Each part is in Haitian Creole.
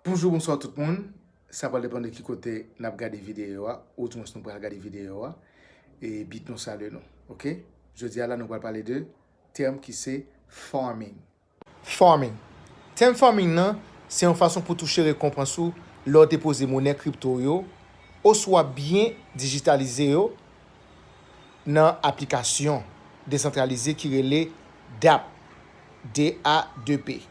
Bonjou bonswa tout moun, sa pral depan de ki kote nap gade videyo a, ou di mwens nou pral gade videyo a, e bit nou salye nou ok. Jodi a la nou pral pale de tèm ki se farming. Farming, tèm farming nan se yon fason pou touche rekonpans ou lè w depoze monè kripto w yo oswa byen dijitalize yo nan aplikasyon desantralize ki rele dApp, D-A-P-P.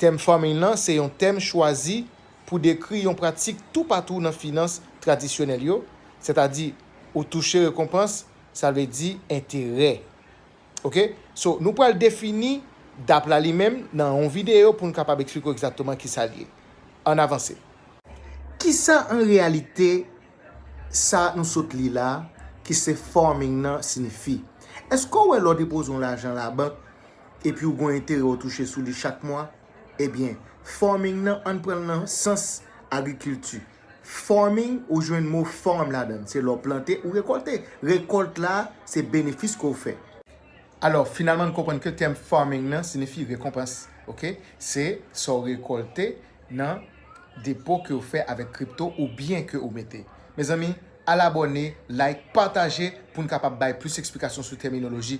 Tèm farming lan se yon tèm chwazi pou dekri yon pratik toupatou nan finans tradisyonèl yo, sètadi ou touche rekonpans, sa vle di enterè. Ok, so nou pral defini dap la li menm nan yon videyo pou n kapab eksplike w egzakteman ki sa l ye. Ann avanse. Ki sa an reyalite sa nou sot li la ki se farming lan sinifi? Èske w wè lè w depoze yon lajan labank epi ou gon enterè ou touche sou li chak mwa, ebyen farming nan ann pranl nan sans agrikilti. Farming ou jwenn mo farm ladann, se lè ou plante ou rekòlte, rekòlt la se benefis ke ou fè. Alò finalman nou konprann ke tèm farming nan sinifi rekonpans ok, se sa ou rekòlte nan depo ke ou fè avèk kripto ou byen ke ou mete. Mezanmi Al abòne, like, pataje pou n kapab bay plis eksplikasyon sou tèminoloji.